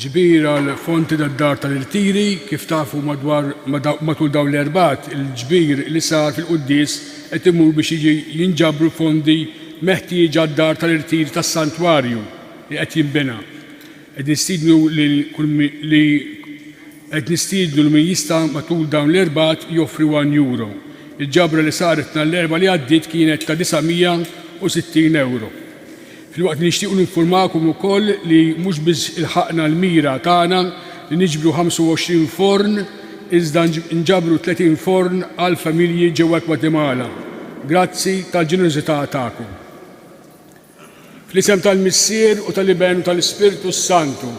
Ġbir għal fonti tad-dar tal-irtiri, kif tafu madwar matul dawn l-erbat, il-ġbir li sar fil-quddies qed imur biex jiġi jinġabru fondi meħtieġa għad-dar tal-irtiri tas-santwarju li qed jinbena. Qed nistiednu lil kull li qed nistiednu lil min jista' matul dawn l-erbgħat joffri one euro. Il-ġabra li saret nhar l-Erbgħa li għaddiet kienet ta' 960 ewro. Filwaqt li nixtiequ ninfurmakom ukoll li mhux biss ilħaqna l-mira tagħna li niġbru 25 forn iżda nġabru 30 forn għal familji ġewwa l-Gwatemala grazzi tal-ġenerożità tagħkom. Fl-isem tal-Missier u tal-Iben u tal-Ispirtu s-Santu.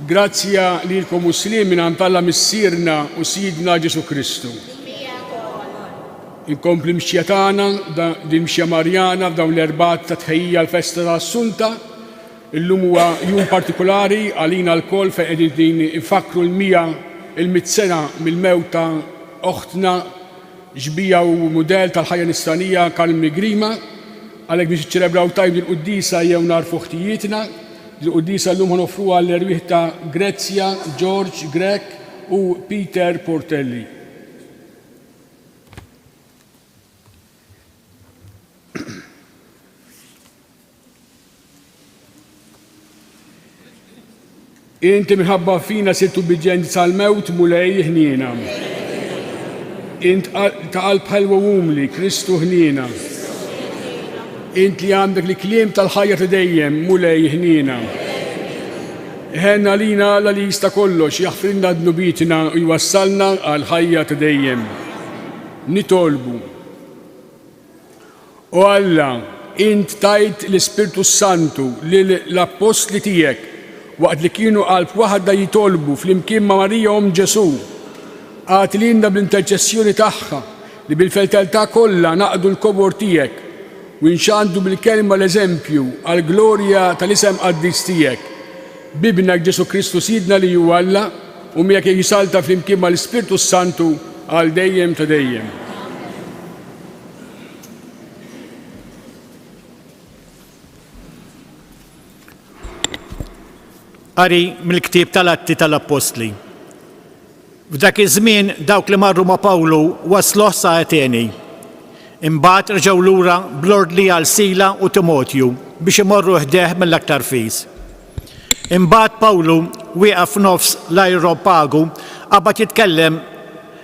Grazzja lilkom u sliem mingħand Alla Missierna u Sidna Ġesù Kristu. Inkompli mxja tagħna din mxja Marjana f'dawn l-erbat ta' tħejjija l-festa ta' Assunta. Illum huwa jum partikolari għalina lkoll fejn qegħdin infakru l-mija il-mit sena mill-mewt ta' oħtna Xbieha u mudell tal-ħajja nisranija Karl Migriema, Għalhekk biex niċċelebraw tajjeb dil-quddiesa ejjew nagħrfu ħtijietna. Dil-quddiesa llum ħa noffruha għall-erwieħ ta' Grezia, George, Grech u Peter Portelli. Inti minħabba fina sirt ubbiġġjenti sal-mewt, Mulej, ħniena. Int ta' qalb ħelwa umli, Kristu ħniena. Int li għandek li kliem tal-ħajja ta' dejjem, Mulej, ħniena. Ħenna lina la li jista' kollox jaħfrinna dnubitina u jwassalna għal ħajja ta' dejjem. Nitolbu. O Alla, int tajt l-Ispirtu s-Santu lil l-appostli tiegħek waqt li kienu qalb waħda jitolbu flimkien ma' Marija omm Ġesù. Agħti lilna bl-interċessjoni tagħha li bil-fedeltà kollha naqdu l-kobor tiegħek u nxandru bil-kelma l-eżempju għall-glorja tal-isem qaddis tiegħek. B'Ibnek Ġesù Kristu Sidna li hu Alla u miegħek jisalta flimkien mal-Ispirtu s-Santu għal dejjem ta' dejjem. Qari mill-ktieb tal-Atti tal-Appostli. F'dak iż-żmien dawk li marru ma' Pawlu wasluh sa' Ateni. Imbagħad rġgħu lura bl-ordni għal Sila u Timotju biex imorru ħdeh mill-aktar fis. Imbagħad Pawlu wieqaf f'nofs l-ajropagu, qabad jitkellem,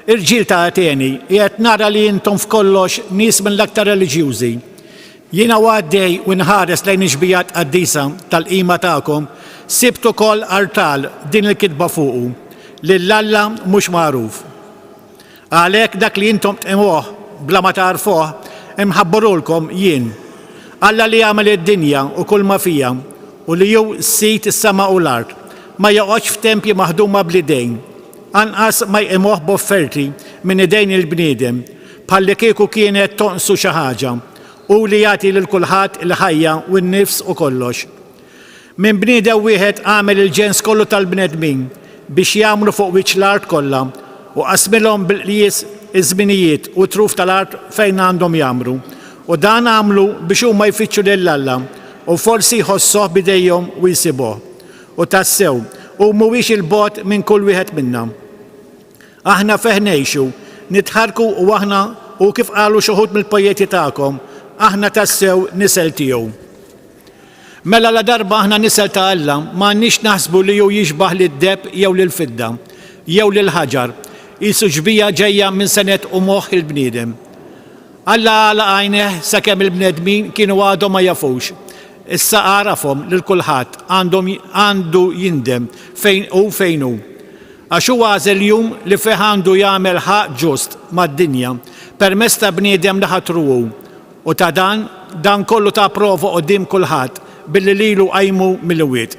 Irġiel ta' Ateni, qiegħed nara li intom f'kollox nies mill-aktar reliġjużi. Jiena u għaddej u nħares lejn ix-xbija tqaddisa tal-qima tagħkom, sibt ukoll artal b'din il-kitba fuqu, Lil Alla mhux magħruf. Għalhekk dak li intom tqimuh bla ma tagħrfuh, imħabburulkom jien. Alla li għamel id-dinja u kulma fiha, u li hu Sid is-sema u l-art, ma joqgħodx f'tempji maħduma bl-idejn, anqas ma jqimuh b'offerti minn idejn il-bniedem, bħallikieku kienet tonqsu xi ħaġa, hu li jagħti lil kulħadd il-ħajja u n-nifs u kollox. Minn bniedem wieħed għamel il-ġens kollu tal-bnedmin biex jgħammru fuq wiċċ l-art kollha, u qasmilhom bil qjies iż-żminijiet u t-truf tal-art fejn għandhom jgħammru, u dan għamlu biex huma jfittxu lil Alla, u forsi jħossuh b'idejhom u jsibuh. U tassew, hu mhuwiex 'il bogħod minn kull wieħed minna. Aħna fih ngħixu, nitħarrku u aħna, u kif qalu xi wħud mill-pojeti tagħkom, aħna tassew nisel tiegħu. Mela ladarba aħna nisel ta' Alla, ma għandniex naħsbu li hu jixbah lid-deheb jew lill-fidda, jew lill-ħaġar, qisu xbieha ġejja minn senet u moħħ il-bniedem. Alla għalaq għajnejh sakemm il-bnedmin kienu għadhom ma jafux. Issa għarafhom lil kulħadd għandhom għandu jindem fejn hu fejn hu. Għax hu għażel jum li fih għandu jagħmel ħaqq ġust mad-dinja permezz ta' bniedem li ħatru hu, U ta' dan, dan kollu ta prova quddiem kulħadd, billi lilu qajmu mill-imwiet.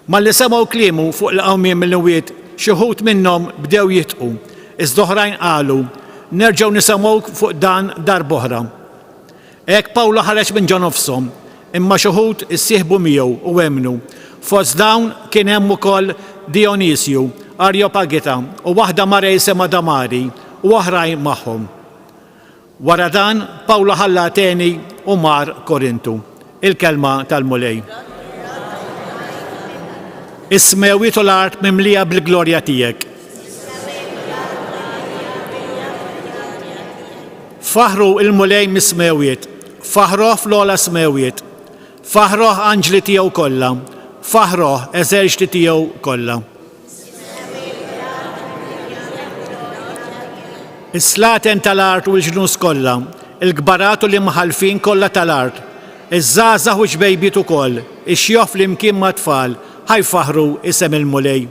Malli semgħu kliemu fuq il-qawmien mill-imwiet, xi wħud minnhom bdew jidħku, iżda oħrajn qalu, Nerġgħu nisemgħuk fuq dan darb'oħra. Hekk Pawlu ħareġ minn ġo nofshom, imma xi wħud issieħbu miegħu u emmnu, fost dawn kien hemm ukoll Dijonisju, Arjopagita, u waħda mara jisimha Damari, u oħrajn magħhom. Wara dan, Pawlu ħalla Ateni u mar Korintu. Il-kelma tal-Mulej. Is-smewwiet u l-art mimlija bil-glorja tiegħek. Faħru il-Mulej mis-smewwiet, faħroh fl-ogħla smewwiet, faħroh anġli tiegħu kollha, faħroh eżerċti tiegħu kollha. Is-slaten tal-art u l-ġnus kollha, il-kbarat u l-imħallfin kollha tal-art, iż-żgħażagħ u x-xbejbiet ukoll, ix-xjuħ flimkien mat-tfal, ħa jfaħħru isem il-Mulej.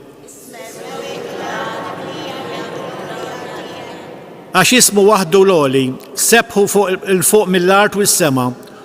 Għax ismu waħdu l-għoli, sebbħu 'l fuq mill-art u s-sema.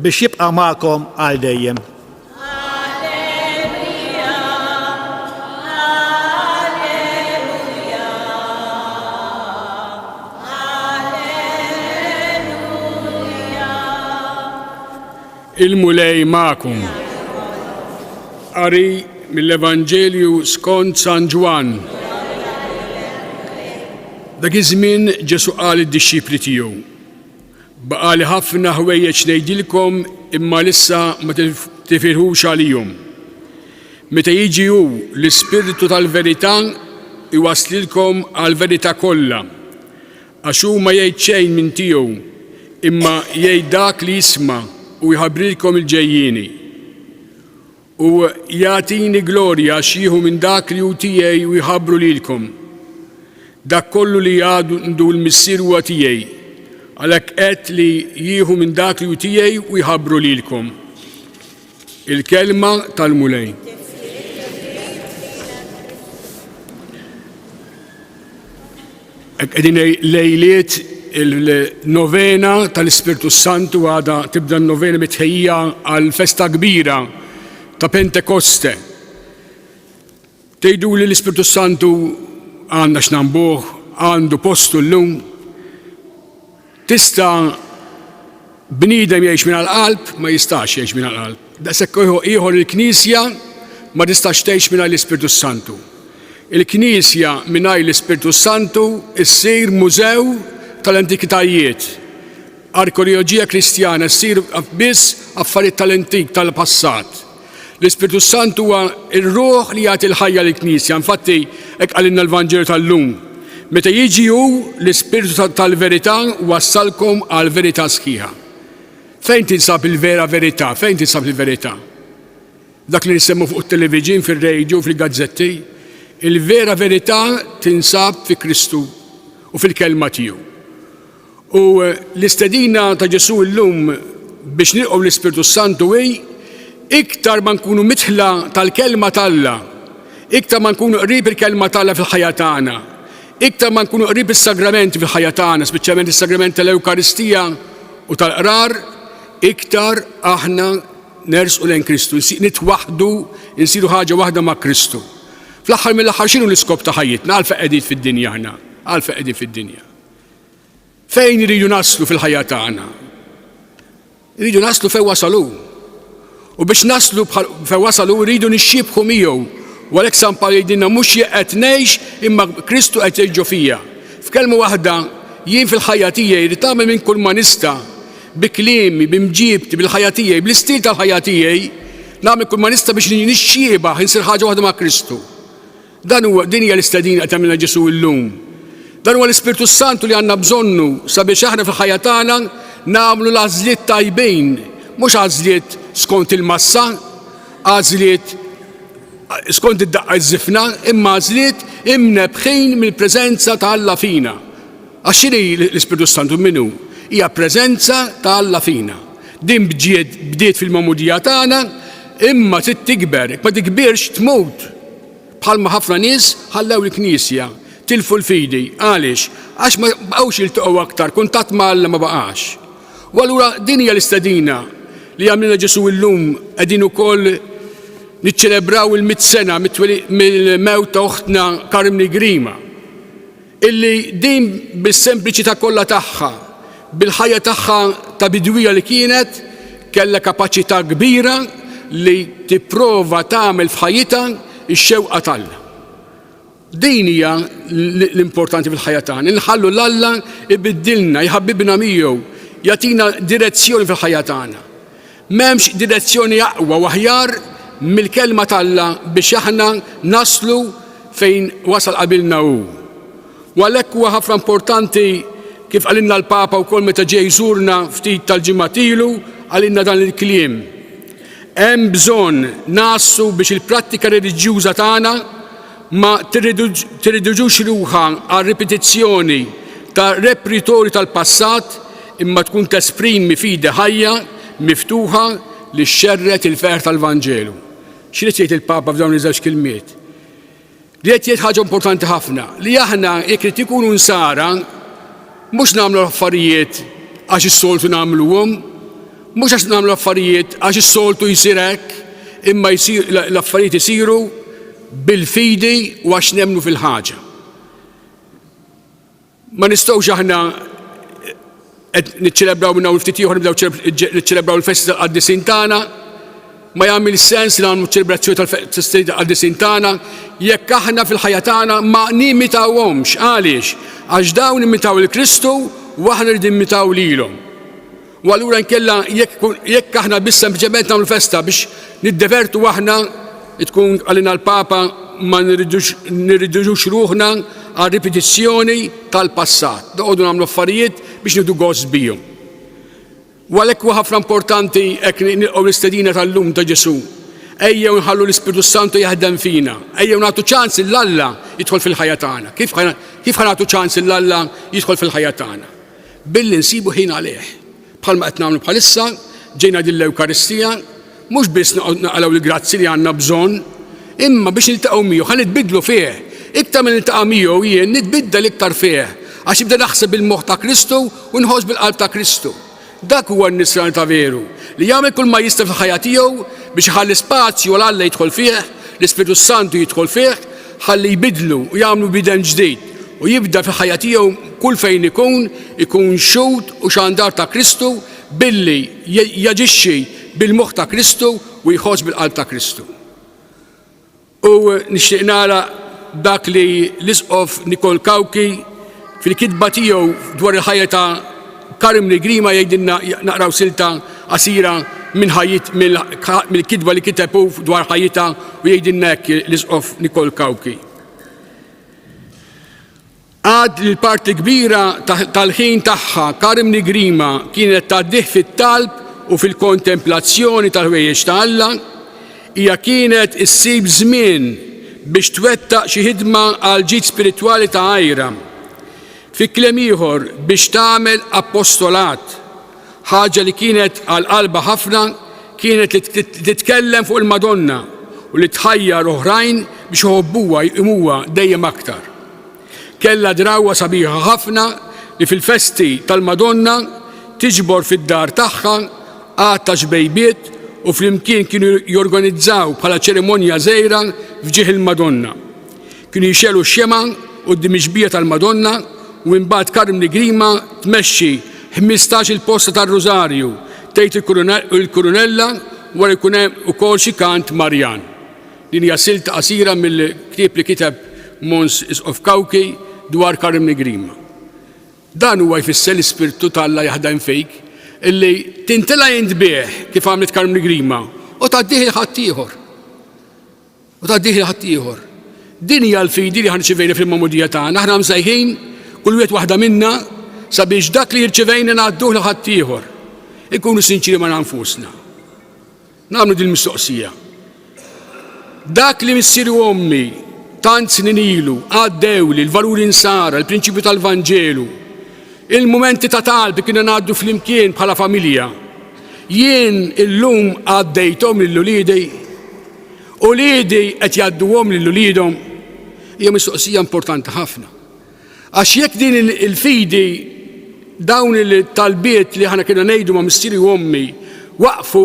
Biex jibqa' magħkom għal dejjem. Il-Mulej magħkom. Qari mill-Evanġelju skont San Ġwann. Dak iż-żmien Ġesu qal id-dixxipli tiegħu, Baqali ħafna ħwejjeġ ngħidilkom imma lissa ma tifirħux għalihom. Meta jiġi hu l-Ispirtu tal-verità jwasslilkom għall-verità kollha, għax hu ma jgħid xejn minn tiegħu imma jgħid dak li jisma' u jħabbrilkom il-ġejjieni. U jagħtini glorja għax jieħu minn dak li hu tiegħi u jħabbru lilkom. Dak kollu li għandu l-Missier huwa tiegħi. Għalhekk għedt li jieħu minn dak li hu tiegħi u jħabbru lilkom. Il-kelma tal-Mulej. Qegħdin lejliet il-novena tal-Ispirtu s-Santu għada tibda n-novena mitħejja għal festa kbira ta' Pentekoste. Tgħidu li l-Ispirtu s-Santu għandna x'nambuh, għandu postu llum. Tista' bniedem jgħix mingħajr qalb? Ma jistax jgħix mingħajr qalb. Daqshekk ieħor il-Knisja ma tistax tgħix mingħajr l-Ispirtu s-Santu. Il-Knisja mingħajr l-Ispirtu s-Santu ssir mużew tal-antikitajiet. Arkeoloġija Kristjana ssir biss affarijiet tal-antik, tal-passat. L-Ispirtu s-Sant huwa r-ruħ li jagħti l-ħajja lill-Knisja. Infatti, hekk qalilna l-Vanġelu tal-lum. Meta jiġi hu l-Ispirtu tal-verità wassalkom għall-verità sħiħa. Fejn tinsab il-vera verità? Fejn tinsab il-verità? Dak li nisemmu fuq it-televiġin, fir-radio, fil-gazzetti, il-vera verità tinsab fi Kristu u fil-kelma tiegħu. U l-istedina ta' Ġesù llum biex nilqgħu l-Ispirtu s-Santu hi iktar ma nkunu midħla tal-kelma t'Alla, iktar ma nkunu qrib il-kelma t'Alla fil-ħajja tagħna, iktar ma nkunu qrib is-sagramenti fil-ħajja tagħna, speċjalment is-sagrament tal-Ewkaristija u tal-Qrar, iktar aħna nersqu lejn Kristu, nitwaħħdu, insiru ħaġa waħda ma' Kristu. Fl-aħħar mill-aħħar x'inhu l-iskop ta' ħajjitna? Għalfejn qegħdin fid-dinja aħna? Għalfejn qegħdin fid-dinja? Fejn iridu naslu fil-ħajja tagħna? Iridu naslu fejn wasalu. U biex naslu fejn wasalu rridu nixxibħu miegħu. U għalhekk San Pawl jgħidilna mhux jien qed ngħix imma Kristu qed jgħix ġo fija. F'kelma waħda, jien fil-ħajja tiegħi rrid tagħmel minn kull ma nista' bi kliemi, bi mġiebti, bil-ħajja tiegħi, bl-istil tal-ħajja tiegħi, nagħmel kull ma nista' biex nixxiebaħ insir ħaġa waħda ma' Kristu. Dan huwa, din hija l-istedina qed jagħmilna Ġesù illum. Dan huwa l-Ispirtu s-Santu li għandna bżonnu sabiex aħna fil-ħajja tagħna nagħmlu l-għażliet tajbin, mhux għażliet skont il-massa, għażliet skont id-daqqa ż-żifna, imma għażliet imnebħin mill-preżenza ta' Alla fina. Għax x'inhi l-Ispirtu s-Santu minnu? Hija preżenza ta' Alla fina. Din bdiet fil-magħmudija tagħna, imma trid tikber, ma tikbirx tmut. Bħalma ħafna nies ħallew il-Knisja, tilfu l-fidi. Għaliex? Għax ma bqgħux jiltaqgħu aktar, kuntatt ma' Alla ma baqax. U allura din hija l-istedina li jagħmlilna Ġesù illum qegħdin ukoll niċċelebraw il-mit sena mill-mewt ta' oħtna Carmni Grima. illi din bis-sempliċità kollha tagħha, bil-ħajja tagħha ta' bidwija li kienet, kellha kapaċità kbira li tipprova tagħmel f'ħajjitha x-xewqa t'Alla. Din hija l-importanti fil-ħajja tagħna, li nħallu 'l Alla jbiddilna, jħabbibna miegħu, jagħtina direzzjoni fil-ħajja tagħna. M'hemmx direzzjoni aqwa u aħjar mill-Kelma t'Alla biex aħna naslu fejn wasal qabilna hu. U għalhekk huwa ħafna importanti, kif qalilna l-Papa wkoll meta ġie jżurna ftit tal-ġimgħat ilu, qalilna dan il-kliem, Hemm bżonn ngħassu biex il-prattika reliġjuża tagħna ma tirriduġux ruħha għal ripetizzjoni ta' repritorju tal-passat imma tkun tesprimi fidi ħajja, miftuħa li xxerred il-ferħ tal-Vanġelu. X'ried jgħid il-Papa f'dawn iż-żewġ kelmiet? Ried jgħid ħaġa importanti ħafna li aħna jekk irid ikunu nsara mhux nagħmlu affarijiet għax is-soltu nagħmluhom, mhux għax nagħmlu affarijiet għax is-soltu jsir hekk, imma l-affarijiet isiru bil-fidi u għax nemmnu fil-ħaġa. Ma nistgħux aħna qed niċċelebraw minn hawn ftit ieħor nibdew niċċelebraw il-festi tal-qaddisin tagħna. Ma jagħmel sens li nagħmlu ċelebrazzjoni tal-festi tal-qaddisin tagħna jekk aħna fil-ħajja tagħna ma nimitawhomx. Għaliex? Għax dawn imitaw il-Kristu u aħna rridu nimmitaw lilhom. U allura nkella jekk aħna biss sempliċement nagħmlu festa biex niddevertu aħna tkun għalina l-Papa ma nirridux ruħna għal ripetizzjoni tal-passat, noqogħdu nagħmlu affarijiet biex nieħdu gost bihom. U għalhekk huwa ħafna importanti hekk nilqgħu l-istedina tal-lum ta' Ġesù. Ejjew nħallu l-Ispirtu Santu jaħdem fina, ejjew nagħtu ċans lil Alla jidħol fil-ħajja tagħna. Kif ħa nagħtu ċans lil Alla jidħol fil-ħajja tagħna? Billi nsibu ħin għalih, bħalma qed nagħmlu bħalissa, ġejna din l-Ewkaristija, mhux biss noqgħod naqalgħu l-grazzi li għandna bżonn, imma biex niltaqgħu miegħu, ħa nitbiddlu fih. Iktar ma niltaqa' miegħu jien nitbiddel iktar fih, għax nibda naħseb bil-moħħ ta' Kristu u nħoss bil-qalb ta' Kristu. Dak huwa n-nisrani ta' veru, li jagħmel kull ma jista' fil-ħajja tiegħu biex iħalli spazju għal Alla jidħol fih, l-Ispirtu s-Santu jidħol fih, Ħalli jbiddlu u jagħmlu bieden ġdid u jibda fil-ħajja tiegħu kull fejn ikun, ikun xhud u xandar ta' Kristu billi jaġixxi bil-moħħ ta' Kristu u jħoss bil-qalb ta' Kristu. U nixtieq nagħlaq b'dak li l-Isqof Nicole Cauchi fil-kitba tiegħu dwar il-ħajja ta' Karim Nigrima jgħidilna naqraw silta qasira minn ħajjit mill-kitba li kiteb hu dwar ħajjitha u jgħidilna hekk l-Isqof Nicole Cauchi. Għad li l-parti kbira tal-ħin tagħha Karim Nigrima kienet tgħaddih fit-talb u fil-kontemplazzjoni tal-ħwejjeġ ta' Alla, hija kienet issib żmien biex twettaq xi ħidma għal ġid spiritwali ta' għira. Fi kliem ieħor, biex tagħmel apostolat, ħaġa li kienet għal qalbha ħafna kienet li titkellem fuq il-Madonna u li tħajjar oħrajn biex iħobbuha jqimuha dejjem aktar. Kellha drawwa sabiħa ħafna li fil-festi tal-Madonna tiġbor fid-dar tagħha għadd ta' xbejbiet u flimkien kienu jorganizzaw bħala ċerimonja żgħira f'ġieħ il-Madonna. Kienu jxegħlu x-xemgħa quddiem ix-xbieha tal-Madonna u imbagħad Carmni Grima tmexxi ħmistax-il posta tar-Rużarju tgħid il-Kurunella wara jkun hemm ukoll xi kant Marjan. Din hija silta qasira mill-ktieb li kiteb Mons. Isqof Cauchi dwar Carmni Grima. Dan huwa jfisser li Spirtu t'Alla jaħdem fik, li tintela' int bih kif għamlet Carmni Grima u tgħaddih 'il ħaddieħor. u tgħaddih lil ħaddieħor. Din hija l-fidi li ħa nirċivejna fil-magħmudija tagħna. Aħna msejħin kull wieħed waħda minna sabiex dak li rċivejna ngħadduh lil ħaddieħor. Inkunu sinċiri ma' nfusna. Nagħmlu din mistoqsija. Dak li missieri u ommi tant snin ilu għaddew li l-valuri nsara, l-prinċipju tal-Vanġelu, il-momenti ta' talb li kienu ngħaddu flimkien bħala familja. Jien illum għaddejthom lill-uliedej Uliedi qed jgħadduhom lil uliedhom hija mistoqsija importanti ħafna. Għax jekk din il-fidi dawn il-talbiet li aħna kienna ngħidu ma' missieri u ommi waqfu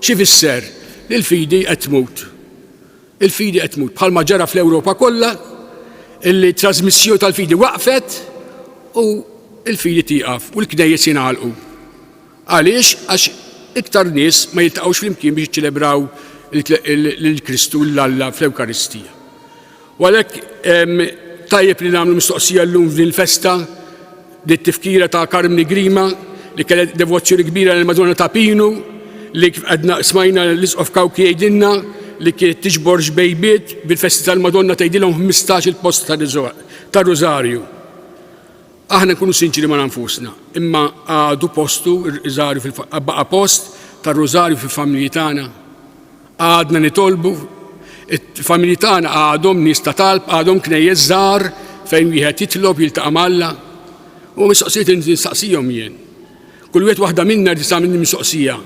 xi fisser li l-fidi qed tmut. Il-fidi qed tmut bħalma ġara fl-Ewropa kollha illi t-trażmissjoni tal-fidi waqfet u l-fidi tieqaf u l-knejjes jingħalqu. Għaliex? Għax iktar nies ma jiltaqgħux flimkien biex jiċċelebraw lil Kristu, lil Alla fl-Ewkaristija. U għalhekk tajjeb li nagħmlu mistoqsija llum f'din il-festa li tifkira ta' Karmni Grima li kellha devozzjoni kbira lil Madonna ta' Pinu li kif għadna smajna l-Isqof Kawki jgħidilna li kienet tiġbor xbejbiet bil-festi tal-Madonna tgħidilhom 15 il-post tar-Rużarju. Aħna nkunu sinċiri ma' nfusna, imma għadu postu r-riżarju fil baqa' post tar-rużarju fil-familji tagħna? Għadna nitolbu? Il-familji tagħna għadhom nies ta' talb, għadhom knejjes żgħar fejn wieħed jitlob, jiltaqa' ma' Alla? Huma mistoqsijiet li nistaqsihom jien. Kull wieħed waħda minna jrid tagħmel mistoqsija.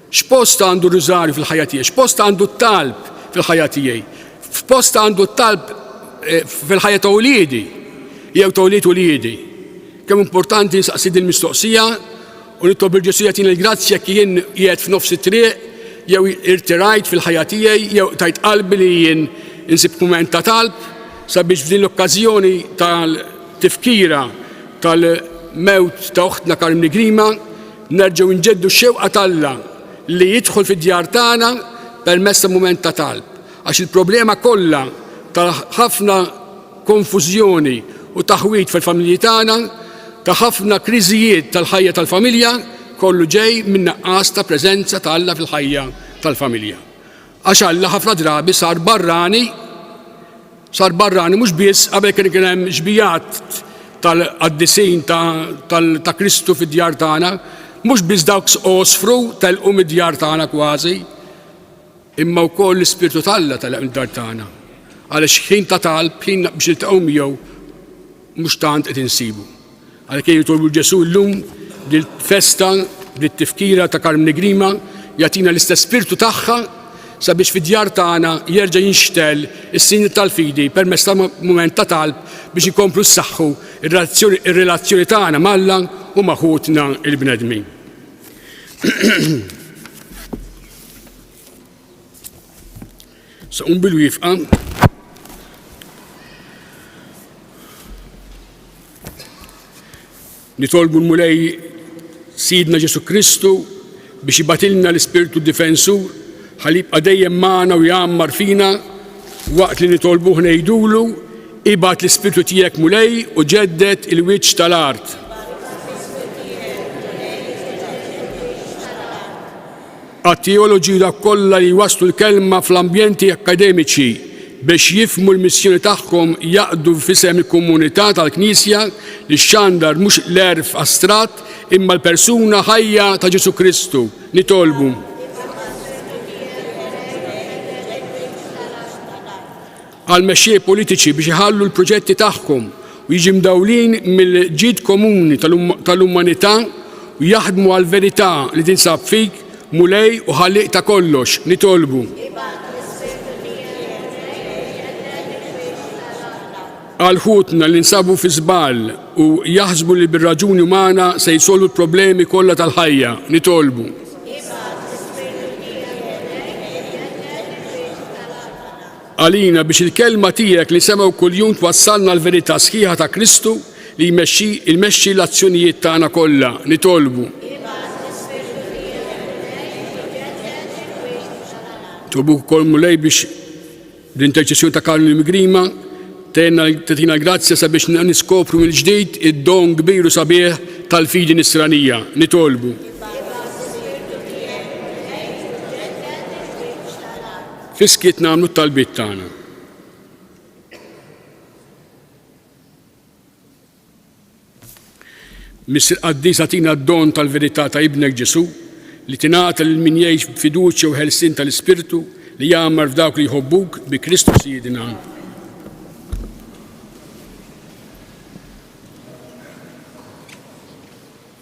X'post għandu r-Rużarju fil-ħajja tiegħi? X'post għandu t-talb fil-ħajja tiegħi? F'post għandu t-talb eh, fil-ħajja ta' uliedi jew ta' ulied uliedi? Kemm importanti nsaqsi din mistoqsija u nitlob il-Ġesu jagħtini l-grazzja jekk jien qiegħed f'nofs it-triq jew irtirajt fil-ħajja tiegħi jew tajt qalbi li jien insib mument ta' talb sabiex f'din l-okkażjoni tal-tifkira tal-mewt ta' oħtna Karim Nigrima Nerġgħu nġeddu x-xewqa t'Alla li jidħol fid-djar tagħna permezz ta' mument ta' talb, għax il-problema kollha ta' ħafna konfużjoni u taħwid fil-familji tagħna, ta' ħafna kriżijiet tal-ħajja tal-familja, kollu ġej min-nuqqas ta' preżenza ta' Alla fil-ħajja tal-familja. Għax Alla ħafna drabi sar barrani, sar barrani mhux biss qabel kien kien hemm xbijat tal-qaddisin ta' Kristu fid-djar tagħna, mhux biss dawk sqosfru telqu mid-djar tagħna kważi, imma wkoll l-Ispirtu t'Alla telaq mid-dar tagħna. Għaliex ħin ta' talb, ħin biex niltaqgħu miegħu, Mhux tant qed insibu. Għalhekk jien nitolbu lil Ġesù llum li l-festa bit-tifkira ta' Carmine Grima jagħtina l-istess spirtu tagħha sabiex fid-djar tagħna jerġa' jinxtegħel is-sinjal tal-fidi permezz ta' mument ta' talb biex inkomplu nsaħħu r-relazzjoni tagħna m'Alla u ma' ħutna l-bnedmin. Saqum bil-wifqa. Nitolbu l-Mulej Sidna Ġesu Kristu biex jibatilna l-Ispirtu Difensur ħalli jibqa' dejjem magħna u jgħammar fina waqt li nitolbuh ngħidulu ibad l-Ispirtu tiegħek Mulej u ġedded il-wiċċ tal-art. Għat-teoloġija kollha li jwasslu l-kelma fl-ambjenti akkademiċi biex jifhmu l-missjoni tagħhom jaqdu f'isem il-komunità tal-Knisja li xxandar mhux l-għerf astratt imma l-persuna ħajja ta' Ġesù Kristu, nitolbu. għall-mexxej politiċi biex iħallu l-proġetti tagħhom u jiġi mdawlin mill-ġid komuni tal-umanità u jaħdmu għall-verità li tinsab fik, Mulej u Ħallieq ta' kollox, nitolbu. għal ħutna li nsabu fi żball u jaħsbu li bir-raġuni umana se jsolvu l-problemi kollha tal-ħajja, nitolbu. għalina biex il-Kelma Tiegħek li nsemgħu kuljum twassalna għall-verità sħiħa ta' Kristu li jmexxi jmexxi l-azzjonijiet tagħna kollha. Nitolbu. Nitolbuk ukoll Mulej biex bl-interċessjoni ta' Karl Migrima tgħinna tagħtina l-grazzja sabiex niskopru mill-ġdid id-don kbir u sabiħ tal-fidi nisranija. Nitolbu. Fis-skiet nagħmlu t-talbiet tagħna. Miss il-Qaddis agħtina d-don tal-verità ta' Ibnek Ġesù li tingħata lil min jgħix b'fiduċja u ħelsien tal-Ispirtu li jgħammar f'dawk li jħobbuk bi Kristu Sidna.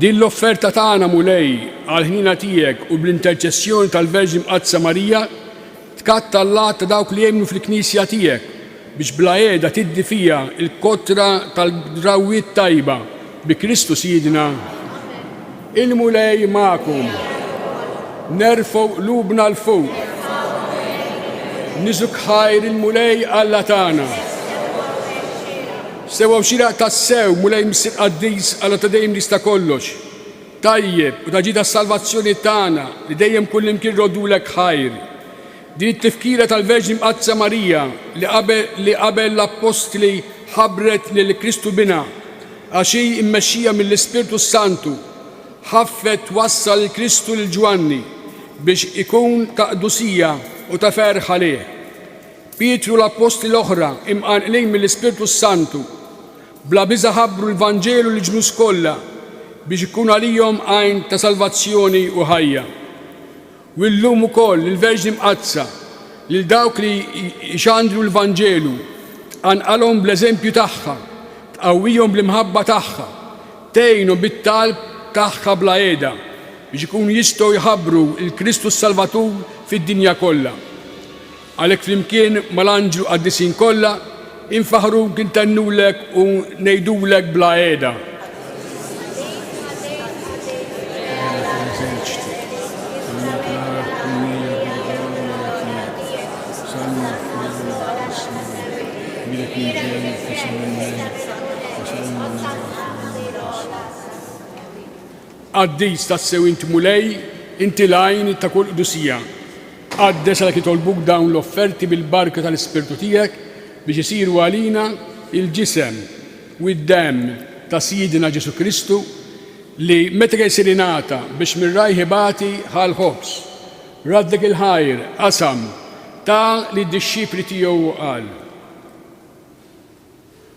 Din l-offerta tagħna, Mulej, għall-ħniena tiegħek u bl-interċessjoni tal-Verġni Mqaddsa Marija, tkatta' l-għadd ta' dawk li jemmnu fil-Knisja tiegħek, biex bla qiegħda tiddi fiha l-kotra tal-drawwiet tajba, bi Kristu Sidna. Il-Mulej magħkom. Nerfgħu qlubna 'l fuq. Niżuk ħajr il-Mulej Alla tagħna. Sewa u xieraq tassew, Mulej Missier Qaddis, Alla ta' dejjem li jista' kollox, tajjeb u ta' ġid għas-salvazzjoni tagħna, li dejjem kullimkien rroddulek ħajr. Din it-tifkira tal-Verġni Mqaddsa Marija li qabel l-Appostli ħabbret lil Kristu Binha, għax hi mmexxija mill-Ispirtu s-Santu, ħaffet twassal lil Kristu lil Ġwanni biex ikun ta' qdusija u ta' ferħ għalih. Pietru u l-appostli l-oħra, imqanqlin mill-Ispirtu s-Santu, bla biża' ħabbru l-Vanġelu lill-ġnus kollha biex ikun għalihom għajn ta' salvazzjoni u ħajja. U illum ukoll il-Verġni Mqaddsa, lil dawk li jxandru l-Vanġelu, tqanqalhom bl-eżempju tagħha, tqawwihom bl-imħabba tagħha, tgħinhom bit-talb tagħha bla qiegħda biex ikunu jistgħu jħabbru lil Kristu s-Salvatur fid-dinja kollha. Għalhekk flimkien mal-anġlu qaddisin kollha, infaħruk, intennulek u ngħidulek bla qiegħda. Qaddis tassew int Mulej, inti l-għajn ta' kull qdusija. Tqaddes għalhekk jitolbuk dawn l-offerti bil-barka tal-Ispirtu tiegħek biex isiru għalina l-ġisem u d-demm ta' Sidna Ġesù Kristu, li meta kien jsir ingħata biex mir-rajh ibati, ħa l-ħobż, raddek il-ħajr, qasam, ta lid-dixxipli tiegħu u qal.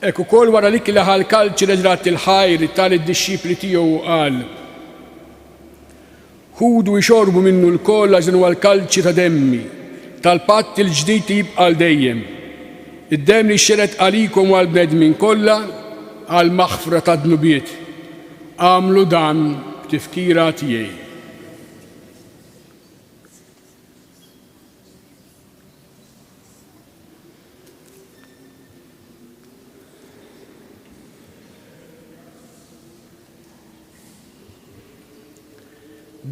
Hekk ukoll wara li kielah għall-kalċi reġrat il-ħaj li ta lid-dixxipli tiegħu u qal, Ħudu ixorbu minnu lkoll għax dan huwa l-kalċi ta' demmi, tal-patt il-ġdid li jibqa' għal dejjem, id-demm li jxerred għalikom u għall-bnedmin kollha għall-maħfra tad-dnubiet. Agħmlu dan b'tifkira tiegħi.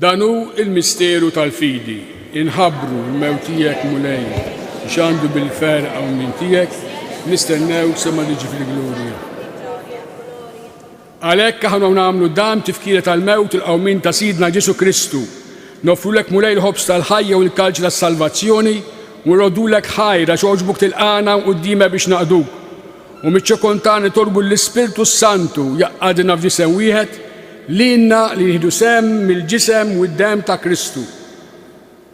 Dan hu il-misteru tal-fidi, inħabru l-mew tiegħek mulej, xandu bil-fer għaw minn tiegħek, nistennew sema liġi fil-glurja. Għalhekk aħna nagħmlu dan, tifkira tal-mewt u l-qawmien ta' Sidna Ġesù Kristu. Noffrulek Mulej il-ħobż tal-ħajja u l-kalċ tas-salvazzjoni, u nroddulek ħajr għax għoġbok tilqagħna hawn quddiemha biex naqduk. U miċ-ċokon tagħna nitolbu lill-Ispirtu s-Santu jgħaqqadna f'ġisem wieħed, lilna li nieħdu sehem mill-ġisem u d-demm ta' Kristu.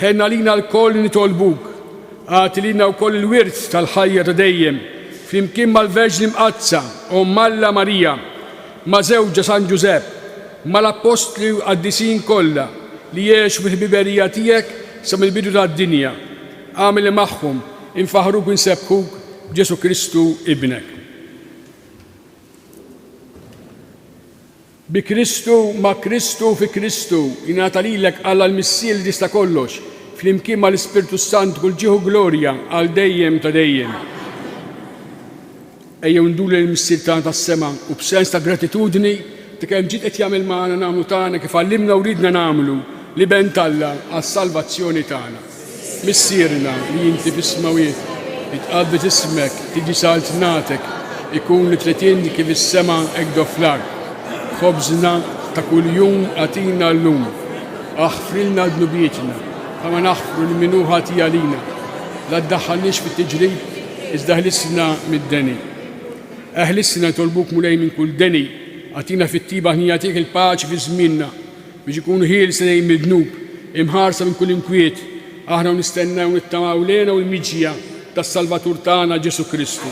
Ħenn għalina lkoll li nitolbuk, agħti lilna wkoll il-wirt tal-ħajja ta' dejjem, flimkien mal-Verġni Mqaddsa, Omm Alla Marija, ma' żewġha San Ġużepp, mal-Appostli u l-Qaddisin kollha li għexu fil-ħbiberija tiegħek sa mill-bidu tad-dinja. Agħmel li magħhom infaħħruk u nsebbħuk b'Ġesù Kristu Ibnek. Bi Kristu, ma' Kristu u fi Kristu, jingħata lilek Alla l-Missier li tista' kollox, flimkien mal-Ispirtu s-Sant kull ġieħ u glorja għal dejjem ta' dejjem. Ejjew nduru lejn il-Missier tagħna tas-sema u b'sens ta' gratitudni ta' kemm ġid qed jagħmel magħna nagħmlu tagħna kif għallimna u riedna nagħmlu l-Iben t'Alla għas-salvazzjoni tagħna. Missierna li inti fis-smewwiet, jitqaddes ismek, tiġi saltnatek, ikun it-tletin kif is-sema hekk do fl-art. Ħobżna ta' kuljum agħtina llum. Aħfrilna dnubietna, bħalma naħfru lil min hu ħati għalina. La ddaħħalniex fit-tiġrib, iżda ħlisna mid-deni. Eħlisna nitolbuk Mulej minn kull deni, agħtina fit-tjieba ħnina tiegħek il-paċi fi żmienna. Biex ikunu ħielsa lejn mid-dnub, imħarsa minn kull inkwiet, aħna u nistennew u nittamaw l-hena u l-miġja tas-Salvatur tagħna Ġesù Kristu.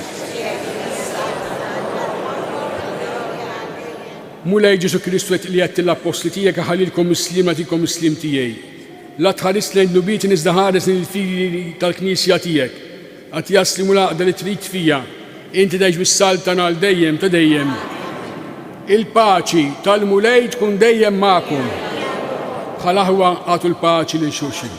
Mulej Ġesù Kristu qed li qed l-appostli tiegħek aħalilkom is-sliem nagħtikom is-sliem tiegħi. La tħares lejn dnubiet iżda ħares lejn il-fidi tal-Knisja tiegħek. Għad jasli mhu l-għaqda li trid fija, inti tgħix bis-saltan għal dejjem ta' dejjem. Il-paċi tal-Mulej tkun dejjem magħkom. Bħal aħwa għatu l-paċi lil xulxin.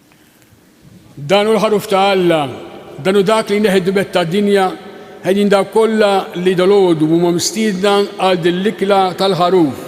Dan hu l-ħaruf ta' Alla, dan hu dak li jneħħi d-dbet tad-dinja, ħejjin dawk kollha li dalgħodu huma mistiedna għal din l-ikla tal-ħaruf.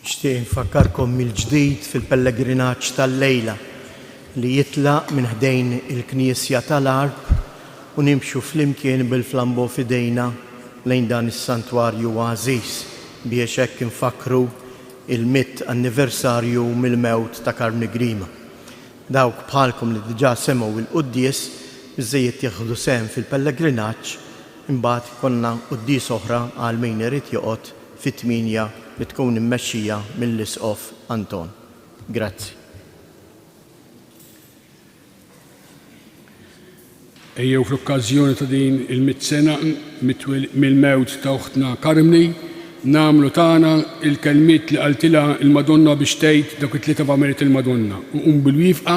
Nixtieq infakkarkom mill-ġdid fil-pellegrinaġġ tal-lejla li jitlaq minn ħdejn il-Knisja tal-Għarb u nimxu flimkien bil-flambeau f'idejna lejn dan is-santwarju għażiż biex hekk infakkru l-mitt anniversarju mill-mewt ta' Karmni Grima. Dawk bħalkom li diġà semgħu l-Quddies biżżejjed jieħdu sehem fil-pellegrinaġġ Imbagħad ikollna quddiesa oħra għal min irid joqgħod fit-tmienja li tkun immexxija mill-Isqof Anton. Grazzi. Ejjew fl-okkażjoni ta' din il-mitt sena mill-mewt ta' uħtna Carmny nagħmlu tagħna l-kelmiet li qaltilha l-Madonna biex tgħid dawk it-tlieta f'għameriet il-Madonna u nqumu bil-wifqa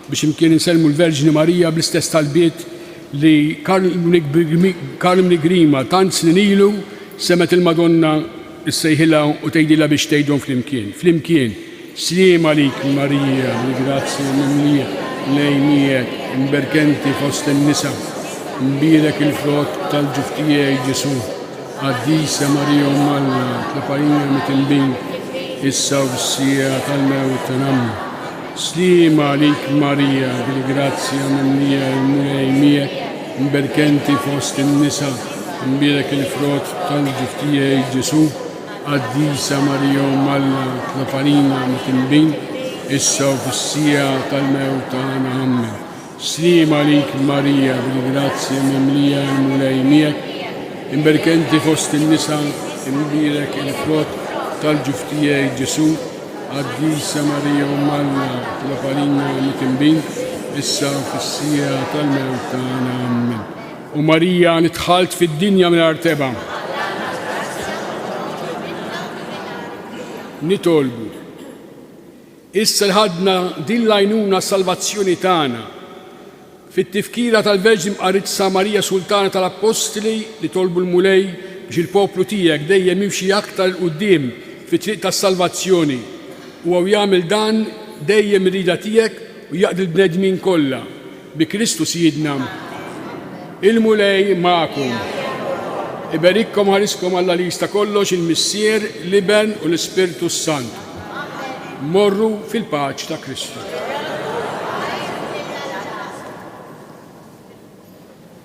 biex imkien insellmu l-Verġni Marija bl-istess talbiet li Carmni Grima tant snin ilu semgħet il-Madonna ssejħilha u tgħidilha biex tgħidhom flimkien, flimkien, Sliem għalik Marija, l-grazzja mimlija, l-Għej miegħek, imberk enti fost in-nisa, mbierek il-frott tal-ġuf tiegħi Ġesù. Qaddisa Marija Omm Alla, tlefgħalina mit-tinbin, issa u fis-siegħa tal-mewt tagħna. Sliem għalik Marija, bil-grazzja mimlija l-Mulej miegħek, mberka inti fost in-nisa, u mbierek il-frott tal-ġuf tiegħi Ġesù. Qaddisa Marija Omm Alla, itlob għalina mtinbin, issa u fis-siegħa tal-mewt tagħna. Ammen. Sliem għalik Marija bil-grazzja mimlija il-Mulej miegħek, imberka inti fost in-nisa, imbierek il-frott tal-ġuf tiegħi Ġesù, Qaddisa Marija Omm Alla itlob għalina mitinbin, issa u fis-siegħa tal-mewt tagħna. Ammen. O Marija li dħalt fid-dinja mingħajr tebgħa, nitolbu Issa li ħadna din l-għajnuna għas-salvazzjoni tagħna, fit-tifkira tal-Verġni Mqaritsa Marija Sultana tal-Appostli li tolbu l-Mulej biex il-poplu tiegħek dejjem jimxi aktar 'il quddiem fit-triq tas-salvazzjoni, huwa u jagħmel dan dejjem ir-rieda tiegħek u jaqdi l-bnedmin kollha. Bi Kristu Sidna. Il-Mulej magħkom. Iberikkom ħariskom Alla li jista' kollox, il-Missier, l-Iben u l-Ispirtu s-Santu. Morru fil-paċ ta' Kristu.